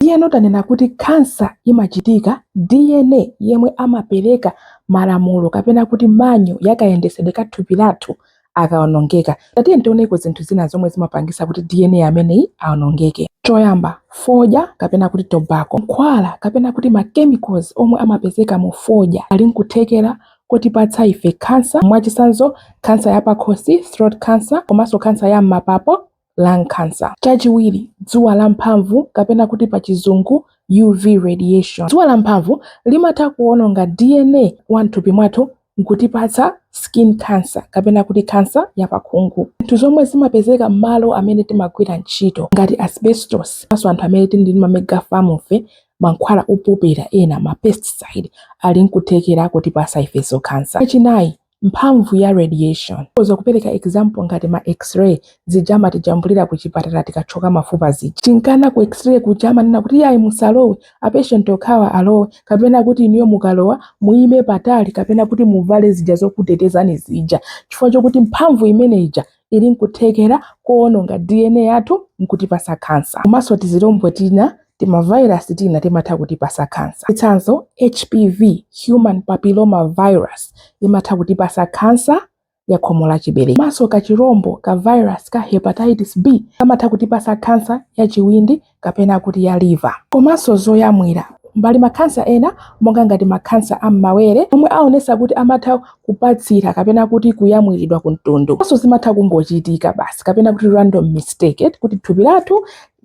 Ndiyeno tanena kuti khansa imachitika, DNA yemwe amapereka malamulo kapena kuti manyo ya kayendesedwe ka thupi lathu akaonongeka. Tatiyeni tioneko zinthu zina zomwe zimapangisa kuti DNA ameneyi aonongeke. Choyamba, fodya kapena kuti tobacco. Mankhwala kapena kuti ma chemicals omwe amapezeka mu fodya ali nkuthekera kotipatsa ife khansa, mwachitsanzo khansa ya pakhosi, throat cancer, komanso khansa ya m'mapapo, lung cancer. Chachiwiri, dzuwa la mphamvu kapena kuti pa chizungu UV radiation. Dzuwa la mphamvu limatha kuononga DNA wa mthupi mwathu nkutipatsa skin cancer kapena kuti cancer ya pakhungu. Zinthu zomwe zimapezeka mmalo amene timagwira ntchito ngati asbestos komanso anthu amene tili ndi ma mega farm fe, mankhwala opopera ena, ma pesticide, ali nkuthekera kotipatsa ifenso cancer. Chachinayi, mphamvu ya radiation tikhoza kupereka example ngati ma x-ray zija amatijambulira ku chipatala tikathyoka mafupa zija chinkana ku x-ray kuja amanena kuti yayi musalowe apatient okhawa alowe kapena kuti inuyo mukalowa muyime patali kapena kuti muvale zija zokutetezani zija chifukwa chokuti mphamvu imene ija ili n'kuthekera kowononga dna yathu n'kutipatsa kansa. Komanso tizilombo tina, timavairasi tina timatha kutipatsa kansa. Chitsanzo, HPV, Human Papilloma Virus, imatha kutipatsa kansa ya khomo la chiberekero. Komanso kachilombo ka vairasi ka hepatitis B kamatha kutipatsa kansa ya chiwindi kapena kuti ya liver komanso zoyamwira. Pali makhansa ena monga ngati makhansa a m'mawere omwe aonetsa kuti amatha kupatsira kapena kuti kuyamwiridwa ku mtundu komanso zimatha kungochitika basi kapena kuti random mistake kuti thupi lathu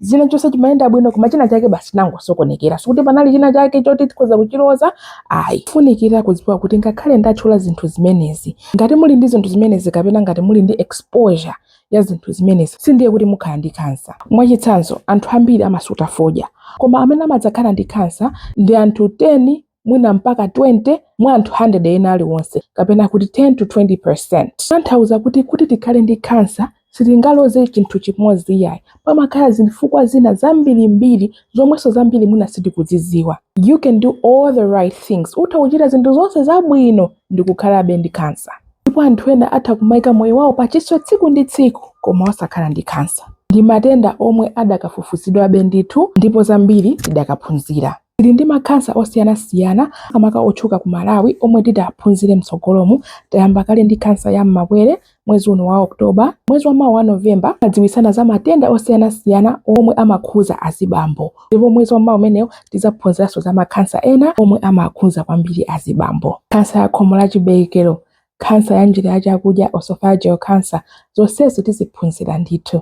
china chilichonse chimayenda bwino koma china chake basi chinangosokonekera sikuti panali china chake choti tikhoza kuchiloza ayi kufunikira kudziwa kuti ngakhale ndatchula zinthu zimenezi ngati muli ndi zinthu zimenezi kapena ngati muli ndi exposure ya zinthu zimenezi sindiye kuti mukhala ndi khansa. Mwachitsanzo, anthu ambiri amasuta fodya. Koma amene amadzakhala ndi khansa ndi anthu 10 mwina mpaka 20 mwa anthu 100 ena aliwonse, kapena kuti 10 to 20 percent. Kutanthauza kuti, kuti tikhale ndi khansa sitingaloze chinthu chimodzi iyayi. Pamakhala zifukwa zina zambirimbiri zomwenso zambiri mwina sitikuzidziwa. You can do all the right things. Utha kuchita zinthu zonse zabwino ndi kukhalabe ndi khansa. ndipo anthu ena atha kumaika moyo wawo pachiswe tsiku ndi tsiku koma osakhala ndi khansa. Ndi matenda omwe adakafufuzidwabe ndithu ndipo zambiri tidakaphunzira. Tili ndi makhansa osiyanasiyana makamaka otchuka ku Malawi omwe titaphunzire mtsogolomu. Tayamba kale ndi khansa ya m'mabere mwezi uno wa October. Mwezi wamawa wa November timadziwitsana za matenda osiyanasiyana omwe amakhudza azibambo. ndipo mwezi wamawa umenewo tidzaphunziranso za makhansa ena omwe amakhudza kwambiri azibambo khansa ya khomo la chiberekero khansa ya njira ya chakudya oesophageal cancer zonsezi tiziphunzira ndithu